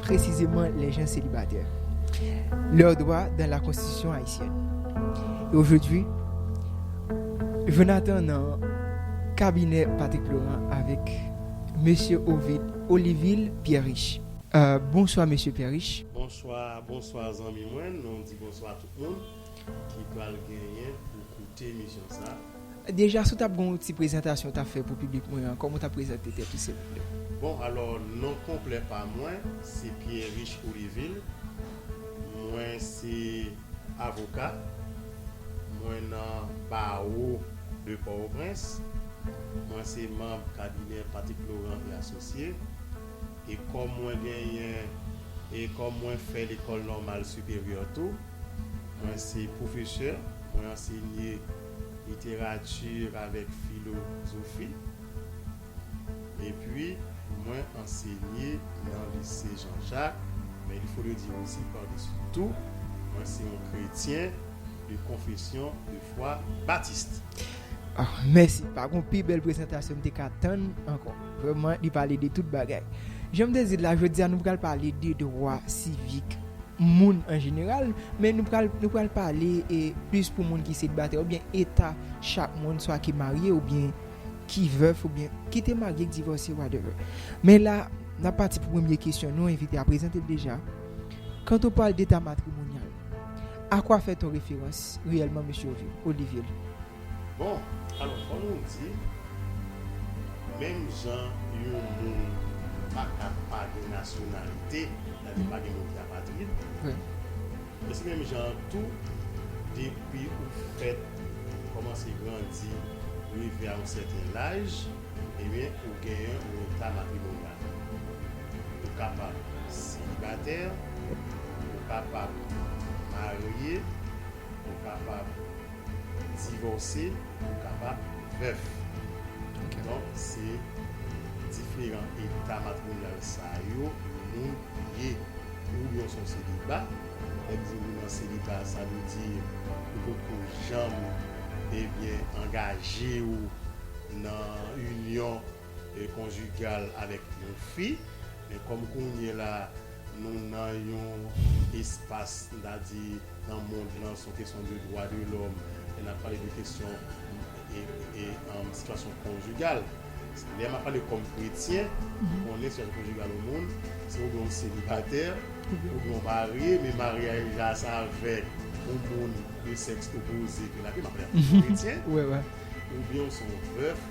Presizeman les gens celibataires. Leurs droits dans la constitution haïtienne. Et aujourd'hui, Jonathan nan kabinè Patrick Laurent avèk Mesye Ovid Olivil Pierre Riche. Bonswa Mesye Pierre Riche. Bonswa, bonswa zanmi mwen. Nou di bonswa a tout moun ki pral genyen pou koute emisyon sa. Deja si w tap gen yon ti prezantasyon w tap fè pou piblik mwen an kòman w tap prezante tèt ou silvouplè? Bon alò non konplè pa mwen se Pierriche Olivil mwen se avoka mwen nan bawo de pòwoprens mwen se manb kabinè Patrick Laurent et Associé e kòm mwen genyen e kòm mwen fè lekòl nòmal siperyè tou mwen se pwofesè mwen ansenye literati avèk filozofi epi mwen ansenye nan lise Jean Jacques men il faut le dire aussi par dessus tout mwen se yon kretyen de konfesyon de fwa batiste. Ahh mèsi pa gon pi bèl prezantasyon m te ka tann ankò. Vrèman li pale de tout bagay. Janm te di l la, jodi a nou pral pale de dwa sivik moun an jeneral, men nou pral nou pral pale e plis pou moun ki selibatè oubyen eta chak moun swa ki marye oubyen ki vèf oubyen ki te marye k divòse whatever. Men la nap pati pou premye kesyon nou envite a prezante l deja. Quand on parle d'état matrimonial, a quoi fait on référence réellement Mesye Olivier? Bon, alò fò nou di, menm jan yon moun pa ka pa gen nasyonalite, sa vle di pa gen moun ki apatrid, men se menm jan an tou, depi ou fèt, ou kòmanse grandi, rive a yon sèten laj, ebyen ou gen yon eta matrimonyal. Ou kapab selibatè, ou kapab marye, ou kapab. Divòse pou w kapab vèf. Donk se diferan eta matrimonyal sa yo yon moun ye. Ou byen w se yon seliba. Lè m di ou nan seliba sa vle di ou poko janm ebyen angaje w nan inyon konjigal avèk yon fi. Men kòm kounyela Nou nan yon espas m ta di nan mond lan son kesyon de dwa de lòm lè nap pale de kesyon sitiyasyon konjigal lè map pale kòm kretyen ki konnen sitiyasyon konjigal yon moun se oubyen ou selibatè oubyen ou marye men maryaj la se avèk yon moun de sèks opoze ke nap viv map pale an kretyen oubyen ou son vèf.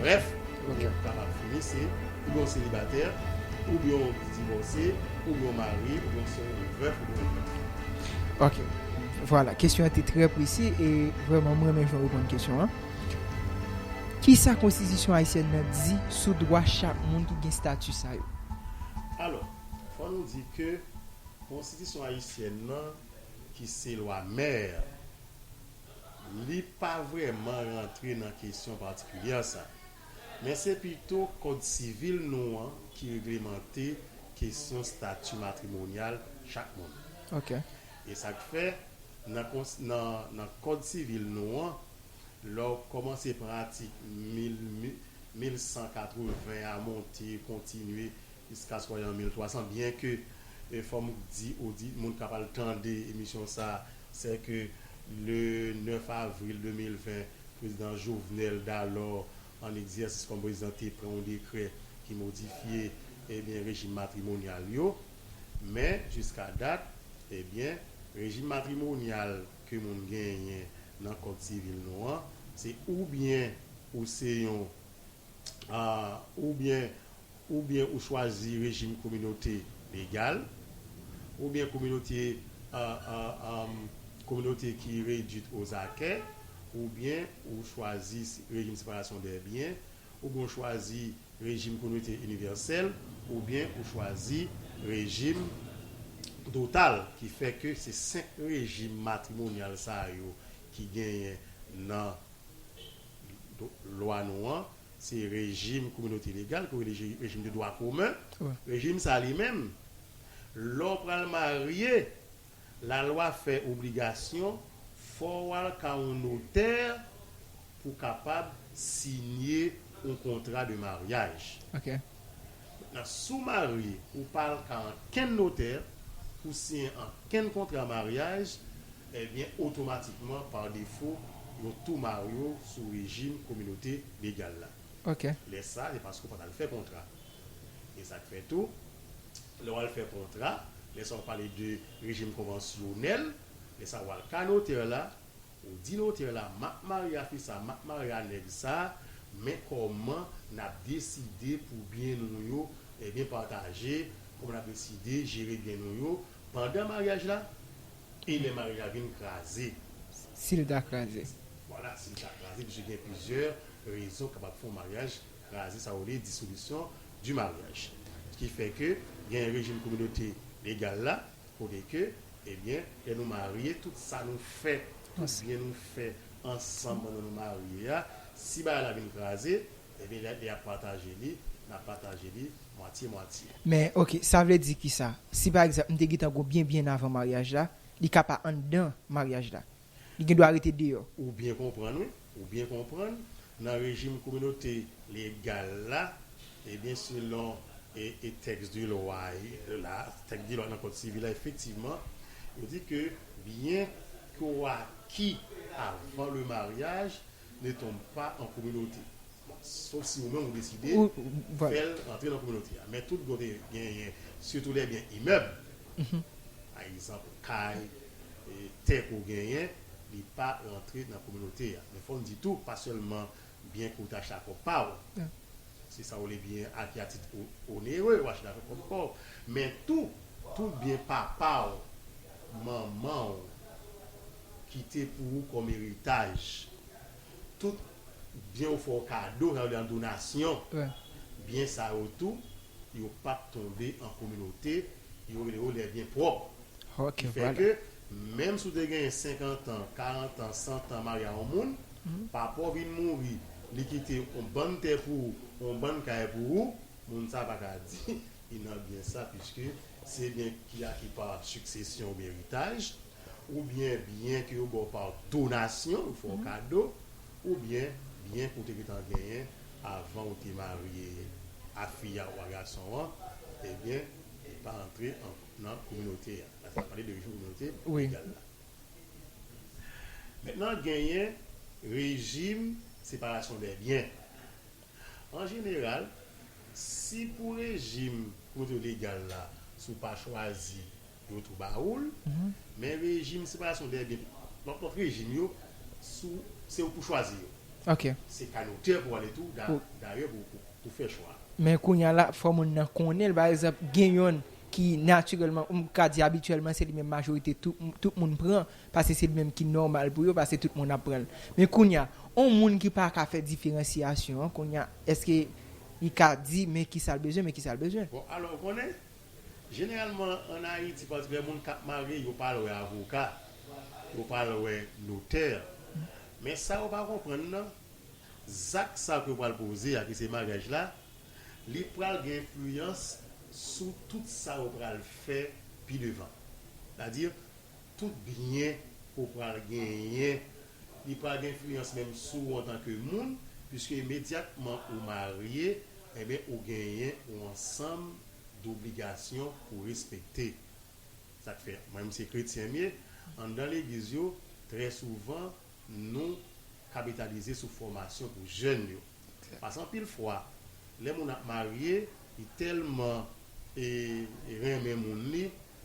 Brèf, yon nèg kapab fini se oubyen yon selibatè, oubyen yon divòse, oubyen yon mare, oubyen yon sè, yon vèf, oubyen yon doud. Ok. Vwala, kesyon an te trè presi e vrèman m renmen jan w reponn kesyon an. Kisa konstitisyon ayisyèn nan di sou dwa chak moun ki gen stati sa yo? Alò, fò nou di ke konstitisyon ayisyèn nan ki se lwa mè, Li pa vrèman rantre nan kesyon patikilyè sa. Men se pito kòd sivil nou an ki reglemante kesyon stati matrimonyal chak moun. E sa k fè, nan kòd sivil nou an, lè w kòmanse pran atik 1180 a monte, kontinye jiskaskò y an 1300, byenke fò m di odit moun k ap al tande emisyon sa sè ke le 9 avril 2020, Prezidan Jovenel, dalò an egzèsis kòm prezidan, te pran yon dekrè ki modifye, ebyen, rejim matrimonyal yo. Men, jiska dat, ebyen, rejim matrimonyal ke moun genyen nan Kòd Sivil nou an, se oubyen ou se yon, oubyen Oubyen ou chwazi rejim kominote legal, oubyen kominote kominote ki redwit ozakè, oubyen ou chwazi rejim separasyon dè byen, oubyen ou chwazi rejim kominote inivèsèl, oubyen ou chwazi rejim total ki fè ke se 5 rejim matrimonyal sa yo ki genyen nan lwa nou an. Se rejim kominote legal ki rele rejim de dwa komen. Rejim sa li menm, lè w pral marye, lalwa fè obligasyon fò w al ka yon notè pou w kapab siyen yon kontra de maryaj. Mentnan, si w marye, ou pa al ka ankenn notè pou w siyen ankenn kontra maryaj, Ebyen otomatikman par defo yo tou marew sou rejim kominote legal la. Lè sa se paske ou pat al fè kontra. E sak fè tou lè wal fè kontra lè sa ou pale de rejim konvansyonèl lè sa wal ka notè la ou di notè la map marye a fi sa map marye a nèg sa men kòman nap deside pou byen nou yo ebyen pataje kòman nap deside jere byen nou yo pandan maryaj la E lè mari a vin kraze. Si l ta kraze. Vwala, si l ta kraze, piske gen plizyè rezon k kapab fè yon maryaj kraze, sa yo rele dissolution du mariage. Ki fè ke gen rejim kominote legal la, kote ke, ebyen, lè nou marye, tout sa nou fè, tout byen nou fè ansanm pandan nou marye a, si bagay la vin kraze, Epi lè yap pataje li nap pataje li mwatye mwatye. Men ok sa vle di kisa si pa egzanp m te gentan gwo byen byen avan maryaj la li ka pa anndan maryaj la li gendwa rete deyò. Ou byen konprann wi, ou byen konprann, nan rejim kominote legal la, ebyen selon e tèks de lwa la, tèks de lwa nan kòd sivil la efektivman yo di ke byen ki ou aki avan le maryaj ne tombe pas en communauté bon sof si ou menm ou deside fèl antre nan kominote a men tout kote genyen sitou lè gen imèb pa egzanp kay tè ke w genyen li pa rantre nan kominote a men fò m di tou pa sèlman byen ke w te achte a pwòp pa w se sa w rele byen a ki a tit onere w achte avèk pwòp kò w men tou tout byen papa w manman w kite pou ou kòm eritaj. Tout byen ou fè w kado, sa vle di an donasyon, byen sa yo tou, yo p ap tonbe an kominote, yo rele yo lè byen pwòp. Ki fè ke, menm si w te genyen senkantan, karantan, santan marye a yon moun, papa w vin mouri, li kite yon bann tè pou ou, yon bann kay pou ou, moun sa a pa ka di li nan byen sa, piske se byen ki aki pa siksesyon oubyen eritaj. Oubyen byen ke yo ba w pa donasyon, yo fè w kado, oubyen byen ke w te gentan genyen avan ou te marye a fi a ou a gason an, ebyen li pa antre nan kominote a. La sa n ap pale de rejim kominote legal la. Mentnan genyen rejim separasyon dè byen. An jeneral, si pou rejim kominote legal la, si w pa chwazi yon twou bawoul, men rejim separasyon dèyè byen lòt lòt rejim yo sou se ou pou chwazi yo. Se kay notè pou ale tou dayè pou fè chwa a. Men kounye a la fò moun nan konnen l pa egzanp gen yonn ki natirèlman ou m ka di abityèlman se li menm majorite tout moun pran pase se li menm ki nòmal pou yo pase tout moun ap pran l. Men kounye a yon moun ki pa ka fè diferansiyasyon an kounye a èske li ka di men kisa l bezwen men kisa l bezwen. Bon alò ou konnen Jeneralman an Ayiti patikilè moun kap marye yo pa al wè avoka, yo pa al wè notè. Men sa yo pa konprann nan, zak sa ke yo pral poze a ki se maryaj la, li pral gen enfliyans sou tout sa yo pral fè pi devan. Sètadi tout byen ke w pral genyen, li pral gen enfliyans menm sou ou antanke moun, piske imedyatman ou marye, enben ou genyen ou ansanm dobligasyon pou respekte. Sa k fè, mwen menm se kretyen m ye, anndan legliz yo, trè souvan nou kapitalize sou fòmasyon pou jèn yo. Paske anpil fwa, lè moun ap marye, li tèlman renmen moun li,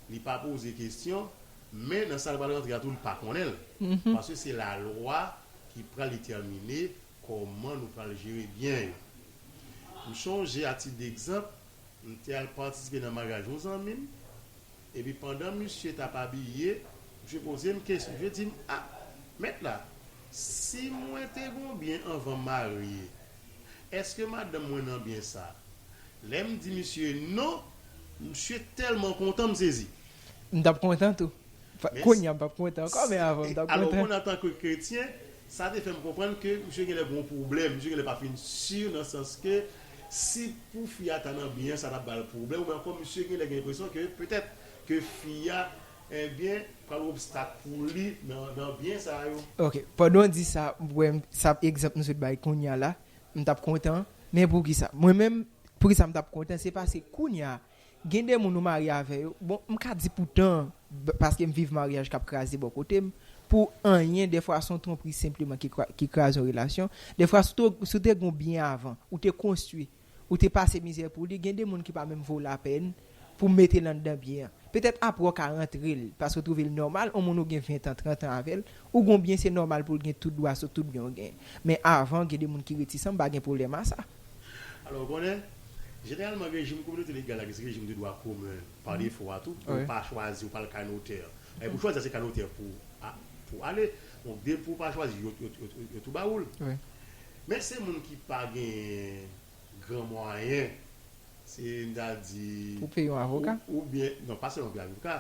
li pa poze kesyon, men nan sa l pral rantre a tou li pa konnen l. Paske se lalwa ki pral detèmine Kòman nou pral jere byen yo? M chonje atidegzanp, m te al patisipe nan maryaj yon zanmi m, epi pandan misye t ap abiye, misye poze m kesyon. Misye di m, A, mèt la, si mwen te gen yon byen anvan m marye, èske madanm mwen nan byen sa a? Lè m di misye non, misye tèlman kontan, m sezi. M t ap kontan tou. Kounye a m p ap kontan ankò, men avan m t ap kontan. Alò, ou konn antanke kretyen, Sa te fè m konprann ke misye genlè gon pwoblèm, misye genlè pa fin sur nan sans ke si pou fi a ta nan byen an sa ta bal pwoblèm oubyen ankò misye genlè gen enpresyon ke petèt ke fi a ebyen pral yon obstak pou li nan byen sa yo. Ok, pandan w di sa, m wè sa egzanp nou sot bay kounya la, m tap kontan, men poukisa? Mwen menm, poukisa m tap kontan, se paske kounya a, Gen de moun ou marye avè yo, bon m ka di pou tan an, paske m viv maryaj k ap kraze bò kote m, pou anyen, dèfwa s on twonpri senpleman ki kraze yon relasyon, dèfwa si w te gen w byen avan, ou te konstwi, ou te pase mizè pou li, gen de moun ki pa menm vo w lapèn pou w mete l anndan byen an. Petèt aprè w ka rantre l, paske w twouve l nòmal, on moun ou gen ventan, trantan avè l, ou gen w byen se nòmal pou l gen tout dwa sou tout byen w genyen. Men avan gen de moun ki retisan, m pa gen pwoblèm a sa. Alò, ou konnen, jeneralman rejim kominote legal la ki se rejim de dwa komen pa defo a tou, ou pa chwazi, ou pa al kay notè. Èpi pou chwazi a se kay notè pou ale. Donk depi ou pa chwazi, yo tou ba ou l. Men se moun ki pa genyen gran mwayen, se m ta di. Pou peye yon avoka? Oubyen, non pa sèlman pou peye avoka.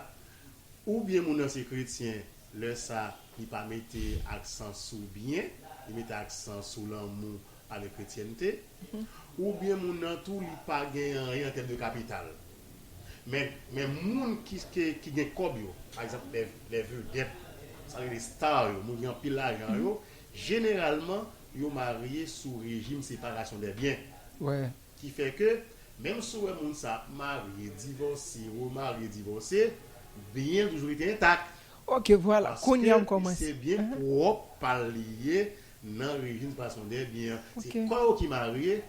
Oubyen moun nan se kretyen, lè sa li pa mete aksan sou byen, li mete aksan sou lanmou pale kretyènte, oubyen moun nan tou li pa gen anyen an tèm de kapital. Men, men moun ki ki gen kòb yo, pa egzanp lè lè vedèt, sa rele star yo, moun ki gen anpil lajan yo, jeneralman yo marye sou rejim separasyon dè byen. Ki fè ke, menm si w wè moun sa ap marye, divòse, remarye, divòse, byen yo toujou rete entak. Ok, vwala. Kounye a m kòmanse. Paske se byen pwòp pa l li ye, Nan rejim fason dè byen an se kò yo ki marye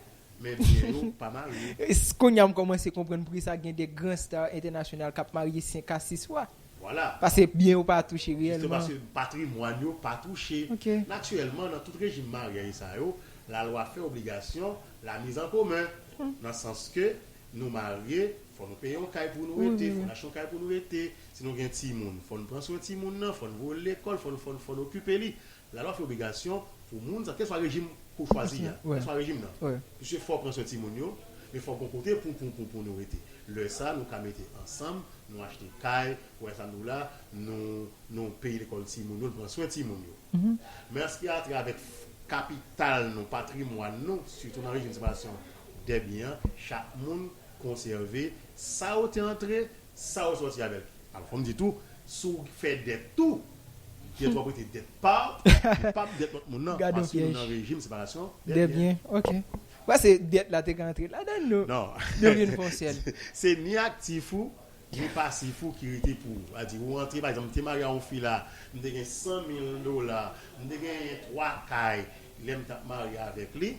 men byen yo pa marye. Kounya m kòmanse konprann poukisa gen 2 gran star entènasyonal kap marye 5 a 6 fwa. Vwala. Pase byen yo pa touche reyèlman. Jistement paske patrimwàn yo pa touche. Ok. Natirèlman nan tout rejim maryaj sa yo la lwa fè obligasyon la mise en commun nan sans ke nou marye fò nou peye yon kay pou nou rete, fò n achte yon kay pou nou rete, si nou gen timoun fò n pran swen timoun nan, fò n voye l lekòl, fò n fò n fò n okipe li. Lalwa fè obligasyon pou moun sa kèlkeswa rejim pou chwazi a, kèlkeswa rejim nan, piske fò pran swen timoun yo, men fò gon kote pou pou pou pou nou rete. Lè sa nou ka mete ansanm, nou achte kay, pou lè sa nou la, nou nou peye lekòl timoun yo, nou pran swen timoun yo. Men aspirate avèk kapital nou, patrimwàn nou, sitou nan rejim separasyon dè byen an, chak moun konsève sa ou te antre, sa ou sòti avèl. Alò fò m di tou, si w fè dèt tou, Dèt wap rete dèt paw li pap dèt lòt moun nan paske nou nan rejim separasyon dè byen. Ok pase dèt la te ka antre ladann nou nou vin fon sèl. Se ni aktif ou ni pasif ou ki rete pou ou a di ou antre pa egzanp m te marye a yon fi la m te gen 100 mil dola m te genyen 3 kay lèm tap marye avèk li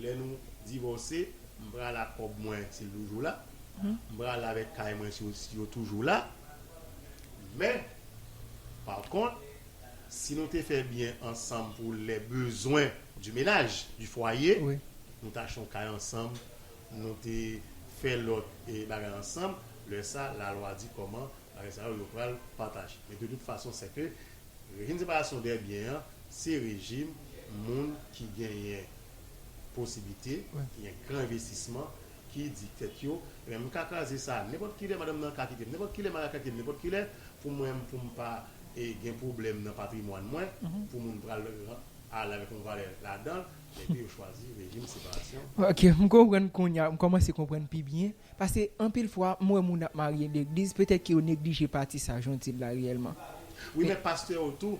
lè nou divòse m pral ak kòb mwen si l toujou la m pral avèk kay mwen si yo toujou la. Men, pa kont, si nou te fè byen ansanm pou les besoins du ménage, du foyer, nou te achte yon kay ansanm, nou te fè lòt bagay ansanm, lè sa a, lalwa di kòman bagay sa yo, yo pral pataje. Men de tout fason, sè ke rejim separasyon dè byen an, se rejim moun ki genyen posiblite, ki gen gran envestisman, ki di tèt yo, Ebyen m ka kraze sa a nenpòt ki lè, madanm nan ka kite m nenpòt ki lè, Mari a ka kite m nenpòt ki lè, pou mwen pou m pa gen pwoblèm nan patrimwàn mwen, pou moun pral ale avèk yon valè ladan l, epi yo chwazi rejim separasyon. Ok, m konprann kounye a, m kòmanse konprann pi byen, paske anpil fwa m wè moun ap marye legliz, petèt ke yo neglije pati sa a, jan w di l la reyèlman. Wi men pastè yo tou.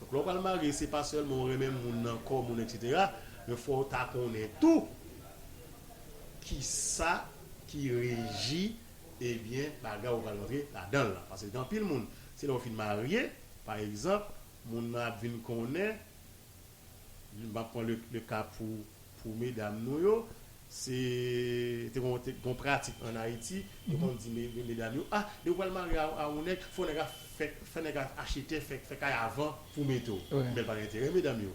Donk lè w pral marye se pa sèlman w renmen moun nan, kò moun etc. Men fò w ta konnen tou kisa ki reji ebyen bagay ou pral rantre ladan l lan. Pase gen anpil moun se lè w fin marye pa egzanp moun nan ap vin konnen, m ap pran le ka pou Pou medam nou yo, se te kon te gon pratik an Ayiti, yo konn di medam yo, ah depi ou pral marye a yon nèg, fò nèg a fè, fè nèg a achte tè, fè, fè kay avan pou w mete w. Men l pa gen enterè medam yo.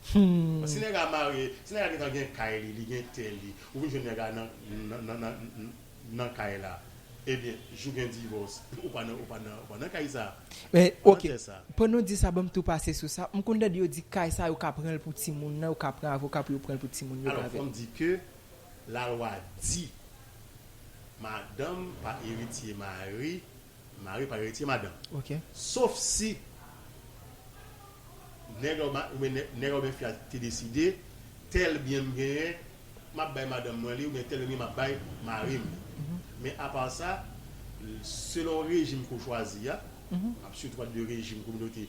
Paske si nèg a marye, si nèg a gentan gen kay li, li gen tè li, ou vin jwenn nèg a nan, nan, nan, nan. nan kay la ebyen jou gen divòs ou pa nan ou pa nan ou pa nan kay sa Men ou pa nan ok tè sa. Pandan w di sa banm tou pase sou sa, m konn tande yo di kay sa yo ka pranl pou timoun nan, yo ka pran avoka pou yo pranl pou timoun yo Alò fò avèl. m di ke lalwa di madanm pa eritye mari. Mari pa eritye madanm. Sof si nèg la oubyen nèg la oubyen fi a te deside, tèl byen m genyen, m ap bay madanm mwen li oubyen tèl byen m genyen m ap bay mari m li. Men apa sa, selon rejim ke w chwazi a, m ap sitou pale de rejim kominote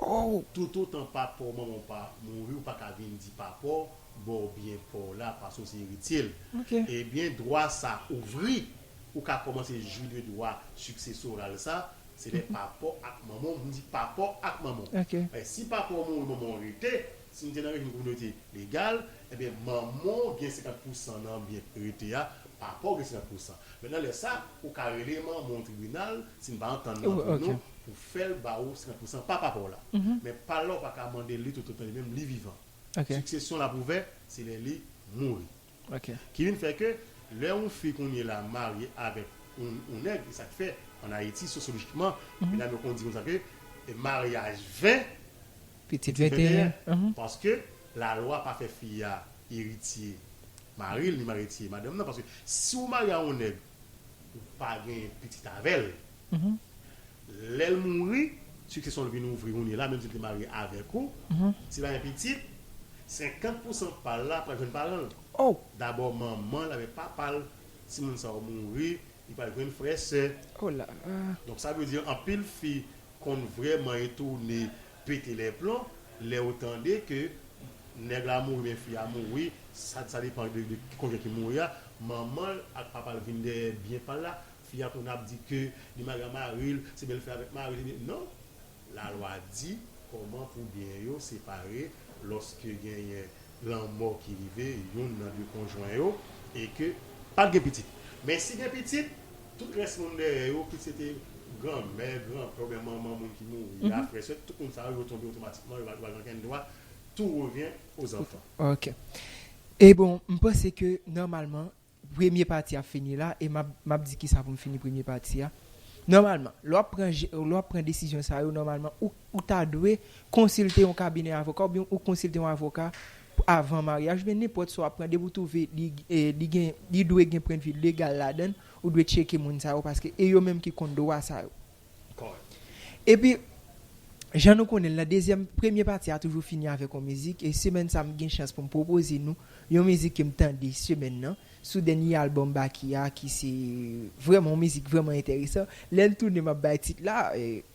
oh. Toutotan papaw manmanw pa mouri ou paka vin di papaw baw byen paw la paske ou se erityel ebyen dwa sa ouvri ou ka kòmanse jwi de dwa siksesoral sa se lè papaw ak manmanw m di papaw ak manmanw paske si papaw mouri manmanw rete si nou te nan rejim kominote legal ebyen manmanw gen 50 pousan nan byen k rete a papaw gen 50 pousan men nan lè sa ou ka rele manmanw tribinal si n pa antann nan pou nou. fèl ba ou 50 pousan pa papaw la men pal la ou pa ka mandel li tout otan li menm li vivan siksesyon l ap ouvè se lè li mouri ki vin fè ke lè yon fi kounye la marye avèk yon nèg e sak fè an ayiti sosyolojikman medam yo konn di konsa ke maryaj 20 pitit 21 paske la lwa pa fè fi a eritye maril ni maritye madanm nan paske si ou marye a yon nèg ou pa gen pitit avèl lèl mouri siksesyonl vin ouvri kounye la menm sil te marye avèk ou sil pa gen pitit 50 pousan pal la pral jwenn paranl dabò manmanl avèk papal si moun sa yo mouri li pral jwenn frè sè donk sa vle di anpil fi konn vrèman retoune Pete les plombs lèw tande ke nèg la mouri men fi a mouri sa sa depan de de ki konjwen ki mouri a manmanl ak papal vin dèyè byen pal la fi a konn ap di ke li mal a maril se bèl fè avèk maril ebyen non la lwa di kòman pou byen yo separe lòske genyen lanmò ki rive youn nan de konjwen yo e ke pat gen pitit men si gen pitit. Tout rès moun dèyè yo, kit se te granmè, granpè oubyen manman moun ki mouri a, frè, sè, tout moun sa yo, yo tonbe otomatikman, yo pa gen okenn dwa, tout revyen o zanfan. Ok. E bon, m panse ke nòmalman, premye pati a fini la, e m ap, m ap di kisa pou m fini premye pati a. Nòmalman, lè w ap pran je, lè w ap pran desizyon sa yo, nòmalman, ou, ou ta dwe konsilte yon kabinè avoka oubyen ou konsilte yon avoka pou avan maryaj oubyen nenpòt sa w ap pran depi w twouve li li gen li dwe gen pwendvi legal ladan l ou dwe tcheke moun sa yo paske e yo menm ki konn dwa sa yo epi jan nou konnen l nan dezyèm premye pati a toujou fini avèk yon mizik e semèn sa m gen chans pou m pwopoze nou yon mizik ke m tande semèn nan sou dènye albòm Baky a ki se vrèman yon mizik vrèman enteresan lè l tounen m ap bay tit la.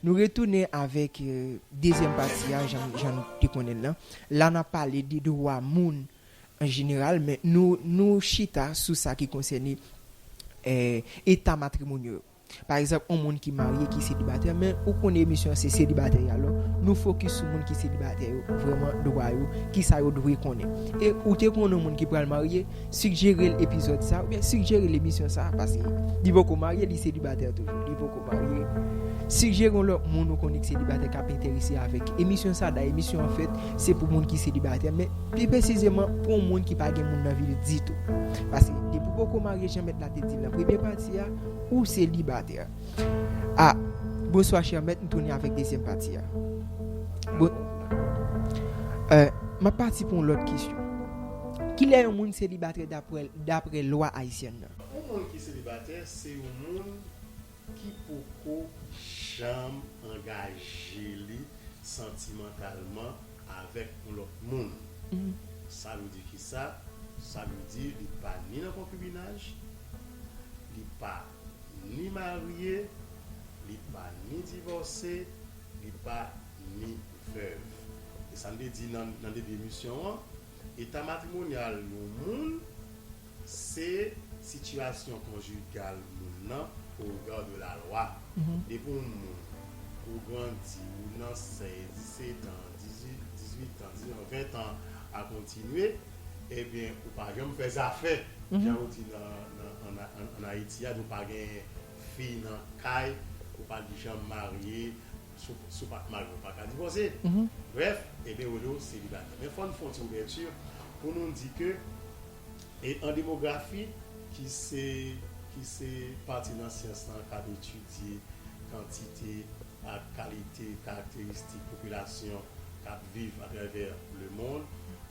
Nou retounen avèk dezyèm pati a jan jan nou te konnen l lan. La n ap pale de dwa moun an jeneral men nou nou chita sou sa ki konsène eta matrimonyo yo. Pa egzanp on moun ki marye ki selibatè men ou konnen emisyon an se selibatè yo alò nou fokis sou moun ki selibatè yo vrèman dwa yo kisa yo dwe konnen e ou te konnen on moun ki pral marye Suggere l epizòd sa oubyen suggere l emisyon sa paske li poko marye li selibatè toujou li poko marye suggere yon lòt moun ou konnen ki selibatè kap enterese avèk emisyon sa dayè emisyon an fèt se pou moun ki selibatè men pi presizeman pou yon moun ki pa gen moun nan vi l ditou paske depi w poko marye jan mèt la te di l nan premye pati a ou selibatè a Bonswa chè mèt m tounen avèk dezyèm pati a bon map pati pou yon lòt kesyon. Kilè yon moun selibatè dapre lwa ayisyèn nan? Yon moun ki selibatè se yon moun ki poko janm angaje li santimantalman avèk yon lòt moun. Sa vle di kisa? Sa vle di li pa ni nan konkibinaj, li pa ni marye, li pa ni divòse, li pa. ni vèv. E sa n te di nan debi emisyon an, eta matrimonyal yon moun se sitiyasyon konjigal moun nan o rega de lalwa. Depi yon moun ou grandi, ou nan 16, 17 an, 18 an, 19 an, 20 an a kontinye, ebyen ou pa janm fè zafè, jan yo di an Ayiti a, nou pa gen fi nan kay, ou pa janm marye, Si w pa t marye w pa ka divòse. Brèf, Eben Redo selibatè. Men fò n fè yon ti ouvèti pou nou di ke an demografi ki se pati nan syans lan k ap etidye kantite ak kalite karakteristik popilasyon k ap viv atravè lemonn,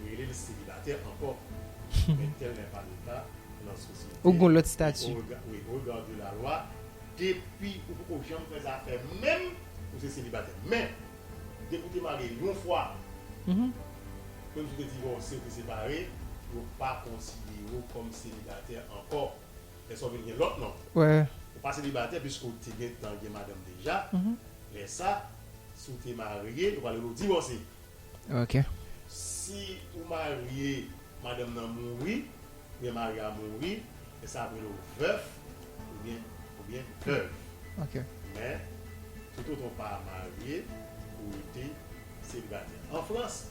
Yo rele l selibatè ankò men tèl lè pa leta nan sosyete Ou gon lòt stati. Wi au regard de la loi depi ou poko janm fè zafè menm ou se selibatè men depi ou te marye yon fwa menm si ou te divòse ou te separe yo pa konsidere w kòm selibatè ankò lè sa ou vin gen lòt non ou pa selibatè piske ou te gentan gen madanm deja lè sa si ou te marye yo pral rele w divòse. ok. Si ou marye madanm nan mouri oubyen mari a mouri lè sa ap rele w vèf oubyen oubyen vèv ok men toutotan w pa marye ou rete selibatè an frans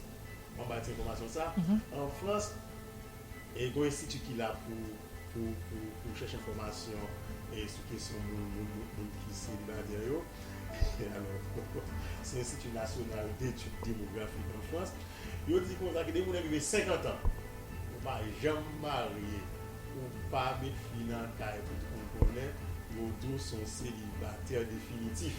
bon m bay ti enfòmasyon sa an frans. E gon enstiti ki la pou pou chèche enfòmasyon sou kesyon moun ki selibatè yo. Alò, se Enstiti Nasyonal Detid Demografik an Frans. Yo di konsa ke depi moun rive senkantan, ou pa janm marye, ou pa met fi nan kay pou tout moun konnen, yo di w se yon selibatè definitif.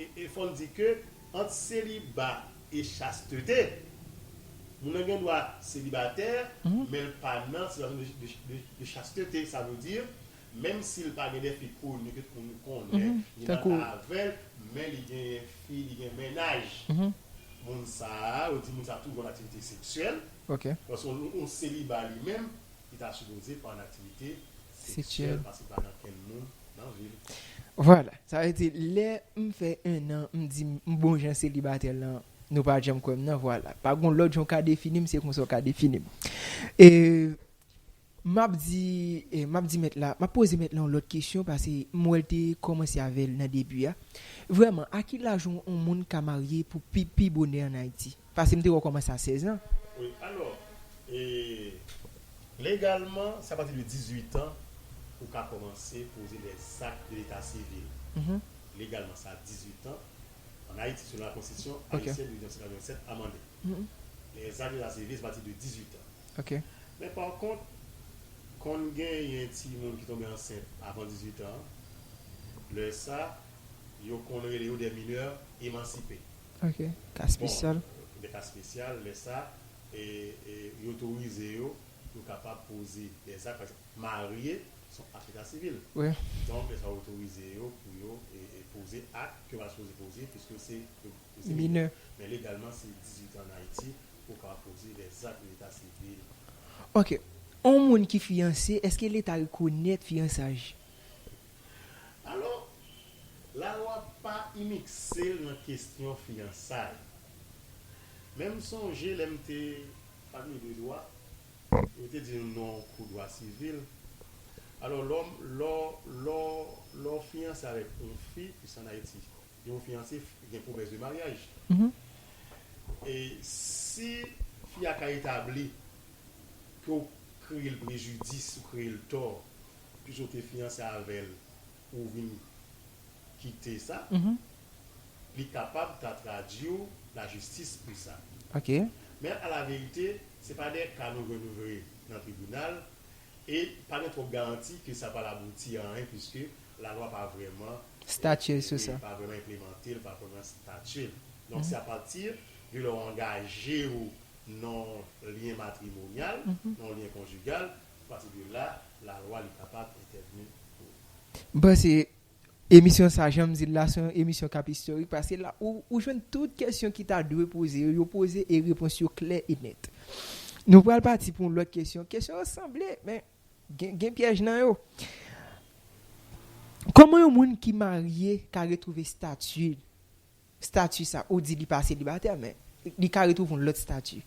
E fò n di ke ant seliba e chastete, moun nan gen dwa selibatè, men l pa nan sitiyasyon de chastete, sa vle di, menm si l pa gen de fi koni ke tout moun konnen, li nan ka avè l, men li genyen fi, li gen mennaj, moun sa a, yo di moun sa a toujou an aktivite seksyèl, paske yon seliba li menm, li ta sipoze pa an aktivite. seksyèl. Vwala, sa vle di lè m fè 1 an m di m bon jan selibatè lan nou pa janm kwè m nan vwala. Pa gon lòt jan w ka defini m se konsa w ka defini m. E m ap di m ap di mèt la m ap poze mèt la yon lòt kesyon pase m wè l te kòmanse avè l nan debi a. Vrèman a ki laj yon moun ka marye pou pi bonè an Ayiti? Pase m te wè w kòmanse a 16 an. Wi, alò, e, legalman, se apati de 18 an ou ka kòmanse poze lè zak de leta sivil. Legalman sa 18 an, an Ayiti, selon la konstitisyon ayisyèn de 1987 amande. Lè zak de leta sivil se apati de 18 an. Men pa kont, konn genyen ti moun ki tonbe ansent avan 18 an, lè sa, yo konn rele yo des mineurs émancipés. Ok ka spesyal. Bon de ka spesyal lè sa e yo otorize yo pou yo kapab poze de zak pa egzanp marye son ak leta sivil wi donk lè sa yo otorize yo pou yo poze ak ke yo pa sipoze poze piske se minè men legalman se 18 an an Ayiti pou yo kapab poze de zak leta sivil. Ok on moun ki fiyanse eske leta rekonèt fiyansaj? Alò, lalwa pa imikse l nan kesyon fiyansay. Men m sonje lè m te fakilte de dwa, yo te di nou nan yon kou dwa sivil, alò lò, lò, lò, lò w fiyanse avèk yon fi, plis ann Ayiti, lè w fiyanse, gen pwomès de maryaj. E si fi a ka etabli ke w kreye l prejidis, ou kreye l tò, Puisque ou te fiyanse avèl ou vin kite sa li kapab ta tradiw la jistis pou sa. Men a la verite se pa de ka nou jwenn nou jwe nan tribinal e pa gen twòp garanti ke sa pral abouti a anyen puisque la lwa pa vrèman enplemante l pa vrèman statye l. Donk se a pati de lè w angajew nan yon lyen matrimonyal nan yon lyen konjigal Apati de la, la lwa li kapab entèvni pou ou. M panse emisyon sa janm di l la se yon emisyon k ap istorik paske la ou jwenn tout kesyon ki ta dwe poze yo, yo poze e repons yo klè e nèt. Nou pral pati pou yon lòt kesyon, kesyon yo sanble men gen pyèj nan yo. Kòman yon moun ki marye ka retwouve stati l? Statut sa ou di li pa selibatè men li ka retrouve yon lot statut.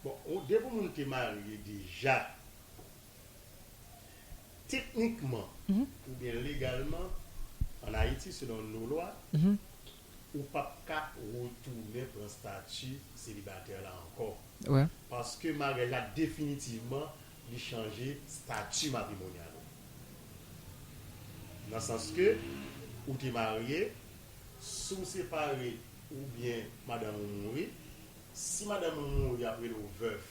Bon ou depi yon moun te marye deja teknikman oubyen legalman an ayiti selon no lwa ou pap ka retounen pran stati selibatè la ankò paske maryaj la definitivman li chanje stati matrimonyal ou nan sans ke ou te marye Si w separe oubyen madanm ou mouri, si madanm ou mouri yap rele w vèf,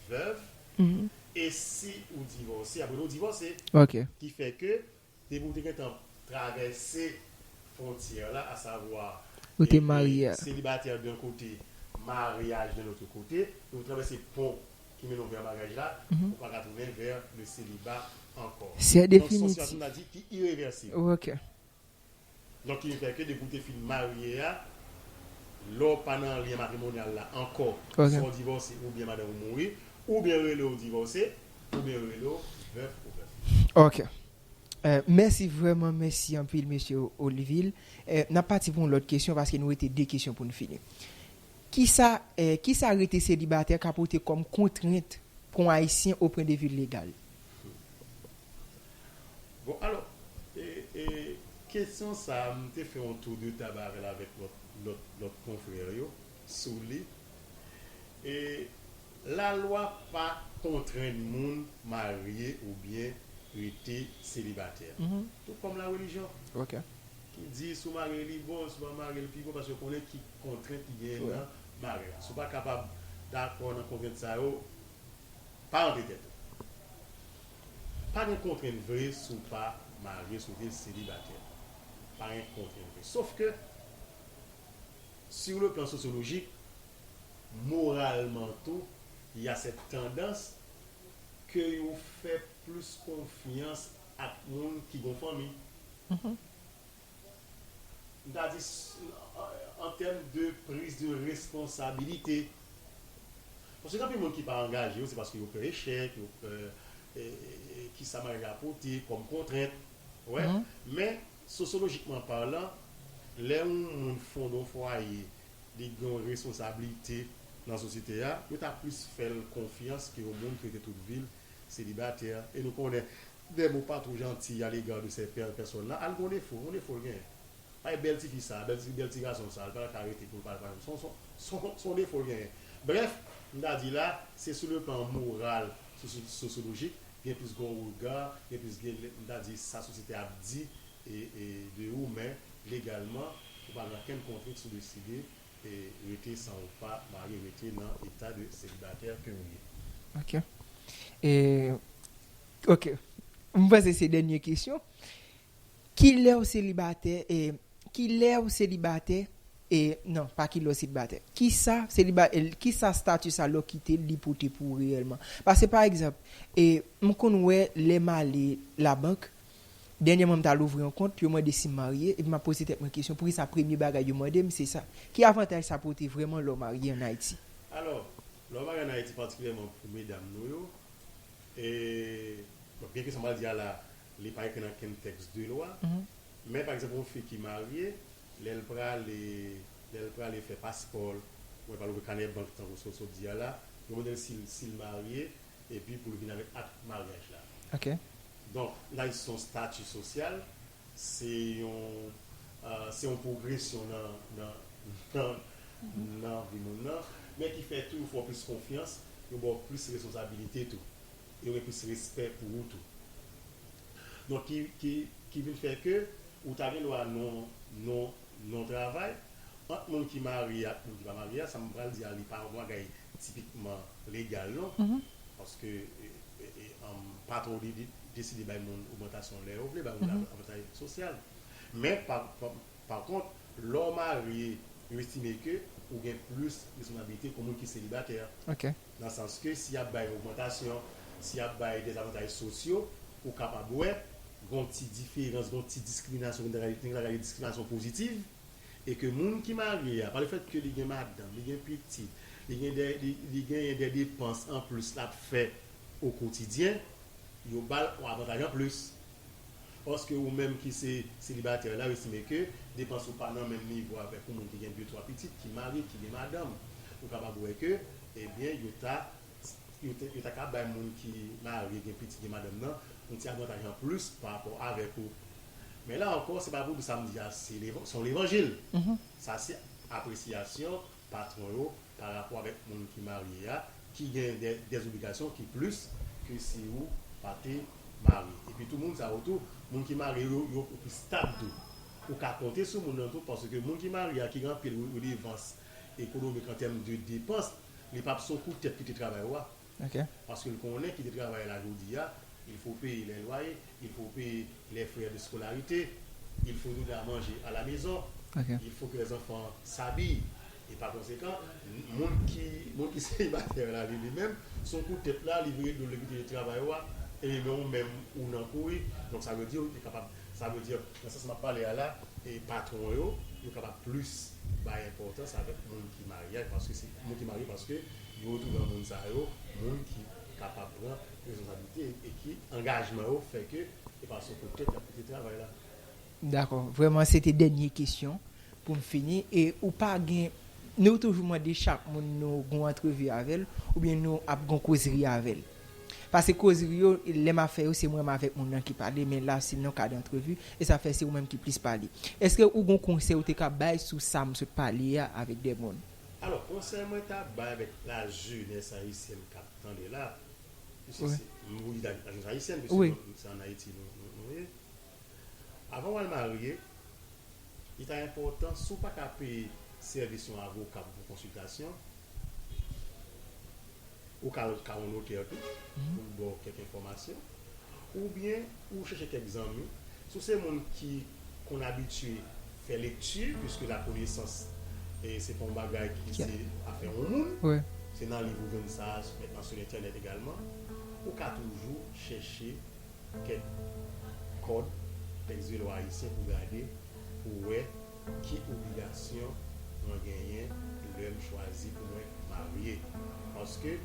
veuve, e si ou divòse yap rele w divòse. Ki fè ke depi ou te gentan travèse fwontyè la asavwa selibatè d'un kote, maryaj d'un autre kote, ou travèse pon ki mennen w vè maryaj la, ou paka tounen vè le seliba ankò. Donk son sitiyasyon nou ta di ki irevèsib. Nan ki eta ke depi ou te fin marye a, lè w pa nan lyen matrimonyal la ankò, swa w divòse oubyen madanm ou mouri, oubyen yo rele w divòse, oubyen yo rele w vèf ou vèf. Ok. Mèsi vrèman mèsi anpil Mesye Olivil. N ap pati pou yon lòt kesyon paske nou rete 2 kesyon pou n fini. Kisa kisa rete selibatè ka pote kòm kontrent pou yon Ayisyen opren de vil legal? Bon alò, e kesyon sa a m te fè yon tou de tab avè l avèk lòt konfrè yo sou li. E lalwa pa kontrenn moun marye oubyen rete selibatè. Tou kòm larelijyon ki di si w marye li bon, si w pa marye l pi bon paske yo konnen ki kontrent ki genyen nan maryaj la. Si w pa kapab dakò nan kontrent sa yo, Pa ranpe tèt ou. Pa gen kontrent vre si w pa marye, si w te selibatè. Pa gen kontrent vre. Sof ke, sur le plan sociologique, moralman tou, il y a cette tendance ke yo fè plis konfyans ak moun ki gon fanmi. m ta di an tèm de prise de responsabilité paske gen anpil moun ki pa angaje yo se paske yo pè echèk yo pè kisa maryaj la pote kòm kontrent ou wè men sosyolojikman palan lè yon moun fonde yon fwaye li gen yon responsabilité nan sosyete a yo ta plis fè l konfyans ke yon moun ki rete tout vi l selibatè e nou konnen Dèm ou pa two janti a l'égard de cette belle personne là al gon defo yon defo l genyen bay bèl tifi sa bèl ti bèl ti gason sa l pa ka rete pou l pa al pale son son son defo l genyen brèf m ta di la se sou le plan moral sosi sosyolojik gen plis gon rega gen plis gen m ta di sa sosyete ap di e e de ou men legalman ou pa gen ankenn kontwit sou deside E rete san ou pa mari rete nan eta de selibatè ke ou ye. Ok e ok m panse se dènye kesyon kilè ou selibatè e kilè ou selibatè e nan pa kilè ou selibatè kisa seliba e kisa stati sa lè ou kite l li pote pou ou reyèlman pase pa egzanp e m konn wè lè m ale labank Dènyèman m t al ouvri yon kont, yo mande si m marye, epi m ap poze tèt mwen kesyon poukisa premye bagay yo mande m se sa, ki avantaj sa pote vrèman lè w marye an Ayiti? Alò, lè w marye an Ayiti, patikilyèman pou medam nou yo, e, bon, byenke sa m pral di a la a, li pa ekri nan okenn tèks de lwa, men, pa egzanp, yon fi ki marye, lè l prale, lè l prale fè paspò l, oubyen l prale ouvri kanè bank, tankou sa w sot di a la, yo mande l si l, si l marye, Epi pou l vin avèk ak maryaj la. Ok. Donk, laj se yon stati sosyal, se yon, se yon pwogresyon nan, nan, nan, nan vi moun nan, men ki fè tou yo fè w plis konfyans, yo ba w plis responsabilite tou. Yo gen plis respè pou ou tou. Donk ki ki ki vin fè ke ou ta gen dwa non non non travay ant moun ki marye ak moun ki pa marye a sa m pral di a li pa yon bagay tipikman legal non paske um patwon ou li deside bay moun ogmantasyon lè yo vle bay moun avantaj sosyal men pa pa kont lè w marye yo estime ke ou gen plis responsabilite ke yon moun ki selibatè. Nan sans ke si yap bay ogmantasyon, si yap bay dezavantaj sosyo, ou kapab wè gon ti diferans, gon ti diskriminasyon ki ta ka nou ta ka rele diskriminasyon pozitiv, e ke moun ki marye a, pa le fèt ke li gen madanm, li gen pitit, li gen dè, li genyen dè depans anplis lap fè o kotidyen, yo bal on avantaj anplis Paske ou menm ki se selibatè la ou estime ke depans ou pa nan menm nivo avèk yon moun ki gen de twa pitit, ki marye, ki gen madanm. Ou kapab wè ke ebyen yo ta yo ta ka bay moun ki marye, gen pitit, gen madanm nan yon ti avantaj an plis pa rapò avèk ou. Men la ankò se pa pou w di sa m di a se se yon levanjil. Sa se apresiyasyon patwon yo pa rapò avèk moun ki marye a ki gen dè zobligasyon ki plis ke si ou pa te marye. Epi tou moun sa yo tou, moun ki marye yo, yo pi stab tou. Ou ka konte sou moun nan tou paske moun ki marye a ki gen anpil redevans ekonomik an tèm de depans, li pa p son kou tèt ki te travay ou a. Paske l konnen kite travay la jodi a, il fo peye lè lwaye, il fo peye lè frè de skolarite, il fo tounen a manje a la mezon, il fo ke lèzanfan sabiy. E pa konsekan, moun ki moun ki selibatè la li limenm, sou kou tèt la, li vire do l li kite travay ou a, e men ou menm ou nan kouri. Donk sa vle di ou te kapab, sa vle di nan sans m ap pale a la, e patwon yo, yo kapab plis bay enpòtans avèk moun ki marye a, paske se moun ki marye paske Yo tou gran moun sa yo, moun ki kapab pran responsablite e ki angajman yo fè ke e pa sou kout tèt yap kite travay la. M dakò. Vrèman se te dènye kesyon pou m fini e ou pa gen nou toujou mande chak moun nou gon antrevi avè l oubyen nou ap gon kozri avè l. Pase kozri yo lè m ap fè yo se mwen m avèk moun nan ki pale men la se nan kad antrevi e sa fè se ou menm ki plis pale. Eske ou gon konsèy ou te ka bay sou sa m sot pale a avèk 2 moun? Alò konsèy mwen ta bay avèk la jenès ayisyèn kap tande la, piske se mwen di la jenès ayisyèn piske se an Ayiti nou ye, avan wal marye li ta enpòtan si w pa ka peye sèvis yon avoka pou konsiltasyon ou ka al ka yon notè tou pou l ba w kèk enfòmasyon. Oubyen ou chèche kèk zanmi, si w se moun ki konn abitye fè lekti, piske lakonesans se pa yon bagay ki se afè yon moun, se nan liv ou jwenn sa, nan sou entènèt egalman, ou ka toujou chèche kèk kòd tèks velo ayisyen pou w gade, pou w wè. Ki obligasyon mwen genyen lèm chwazi pou mwen marye? Paske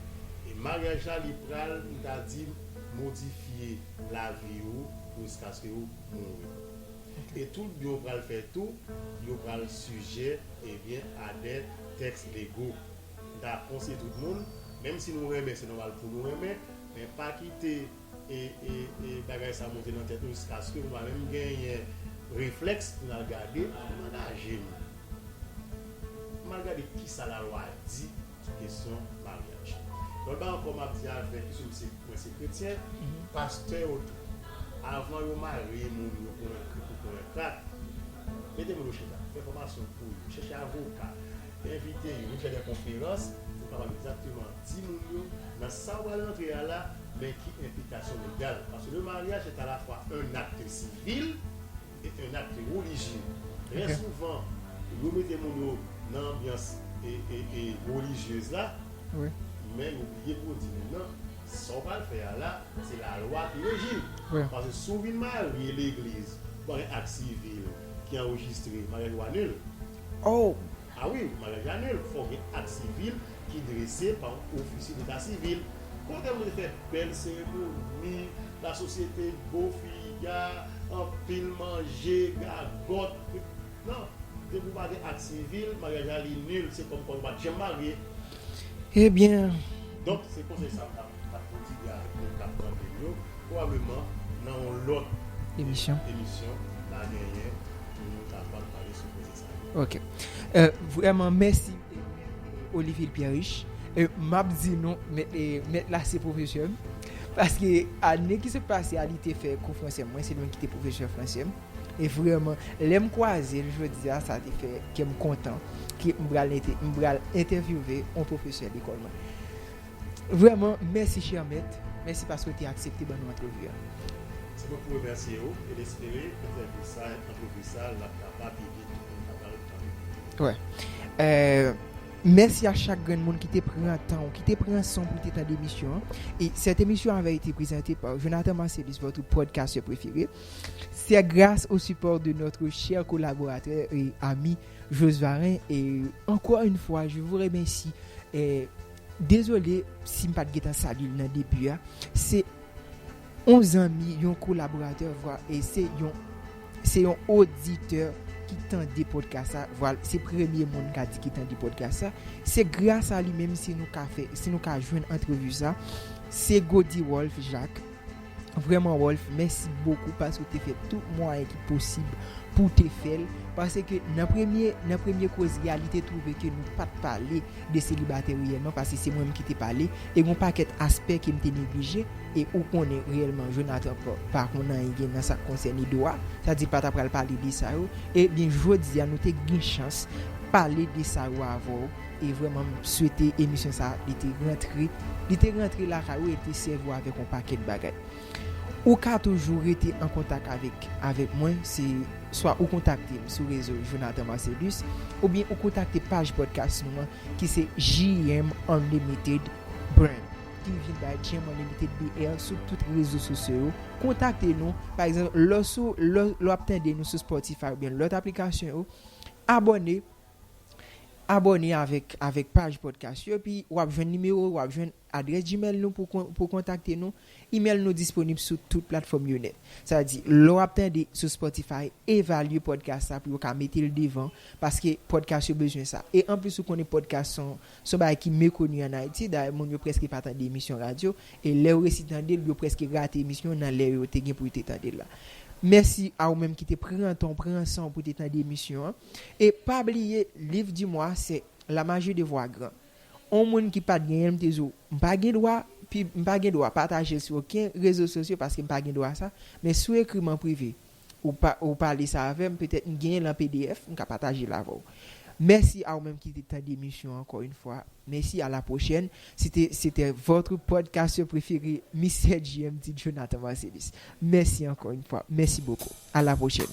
maryaj la li pral m ta di modifye lavi ou jiskaske ou mouri. E tout byen ou pral fè tou yo pral sijè ebyen a dè tèks lego. M ta konseye tout moun menm si nou renmen se nòmal pou nou renmen men pa kite e bagay sa monte nan tèt nou jiskaske nou pa menm genyen reflèks pou nal gade avan nan naje nou pou mal gade kisa lalwa di sou kesyon maryaj lòt bagay ankò map di avèk piske mwen se kretyen pastè yo tou avan yo marye moun yo konnen krik yo konnen krak mete moun yo chita fè fòmasyon pou yo chèche avoka envite yo vin fè dè konferans pou yo kapab egzakteman. Timoun yo, nan sa ou al antre a la, men ki enplikasyon legal. Paske le mariage est à la fois un acte civil et un acte religieux. Trè souvan, yo mete moun yo nan anbyans religieuse la, men yo bliye pou yo di moun nan, sa ou pral fè a la, se la lwa ki reji l. Paske si ou vin marye legliz, ou pral gen acte civil ki anrejistre, mariaj ou anul. Oh! A wi, maryaj la nul, fòk gen ak sivil ki drese pa yon ofisye deta sivil. Kote moun fè bèl seremoni, lasosyete, bo figa, anpil manje, gagòt, krik. Non, depi ou pa gen ak sivil, maryaj la li nul, se kòmkwa ou pa t janm marye. Ebyen. Donk, se konsèy sa m t ap pwodigue avèk moun k ap tande m yo, pwobableman nan yon lòt emisyon ta genyen pou nou kapab pale sou koze sa. Ok vreman mèsi Olivier Pierriche map di nou mèt la se pwofesè m paske ane ki sot pase a li te fè kou fransè mwen se li menm ki te pwofesè fransè m e vreman lèm kwaze l jodi a sa te fè kèm kontan ke m pral entèvyouve yon pwofesè lekòl mwen. Vrèman, mèsi chè mèt, mèsi paske w te aksepte ban nou antrevi a. Se mwen pou remèsye ou e m espere entèvyou sa a, antrevi sa a, l ap ka pa pi vit pou n ka pral tande. Wè. Mèsi a chak grenn moun ki te pran tan ou, ki te pran san w pou te tande emisyon an. E sèt emisyon avè ete prezante pa Jonathan Marcellus, votre podcasteur préféré. Se gras o sipò de notre chè kolaboratè e ami Josvarin e ankò une fwa je vous remercie. Dezole si m pat gentan salye l nan debu a, se yon zanmi, yon kolaboratè vwa e se yon se yon oditè ki tande podcast sa, vwa l se premye moun m ka di ki tande podcast sa, se gras a li menm si nou ka fè si nou ka jwenn antrevu sa, se Gody Rolph Jacques. Vrèman Rolf mèsi bokou paske w te fè tout mwayen ki posib pou w te fè l, paske nan premye nan premye kozri a li te twouve ke nou pat pale de selibatè reyèlman paske se mwen menm ki te pale e gon pakèt aspè ke m te neglije e ou konnen reyèlman Jonathan pa pa konn anyen gen nan sa k konsène dwa sa di pa ta pral pale de sa yo e byen jodi a nou te gen chans pale de sa yo avè w. E vrèman m swete emisyon sa li te rantre li te rantre lakay ou e l te sèvi w avèk yon pakèt bagay. Ou ka toujou rete an kontak avèk avèk mwen se swa ou kontakte m sou rezo Jonathan Marcellus oubyen ou kontakte paj pòdkas nou an ki se JM Unlimited Brand ki vin bay JM Unlimited BL sou tout rezo sosyo yo. Kontakte nou pa egzanp lè w sou lè w ap tande nou sou Spotify oubyen lòt aplikasyon yo abòne. Abòne avèk avèk paj podcast yo epi wap jwenn nimewo wap jwenn adrès gmail nou pou pou kontakte nou. Email nou disponib sou tout platfòm yo nèt. Sa vle di lè wap tande sou Spotify evalye podcast sa pou yo ka metel devan paske podcast yo bezwen sa. E anplis ou konnen podcast son son bagay ki mekoni an Ayiti dayè moun yo prèske pa tande emisyon radyo e lè yo resi tandel yo prèske rate emisyon nan lè yo te gen pou yo te tandel la. Mèsi a ou menm ki te pran tan w pran san w pou te tande emisyon an. E pa bliye liv di mwa se La magie de voir grand. On moun ki pat genyen l m te di w m pa gen dwa pib m pa gen dwa pataje l sou oken rezo sosyo paske m pa gen dwa sa men si w ekri m an prive ou pa ou pale sa avè m petèt m genyen l an pdf m ka pataje l avè w. Mèsi a ou menm ki te tande emisyon ankò yn fwa mèsi a la pwochèn se te se tè votre podcasteur préféré Mister JMD Jonathan Marcellus mèsi ankò yn fwa mèsi bokou a la pwochèn.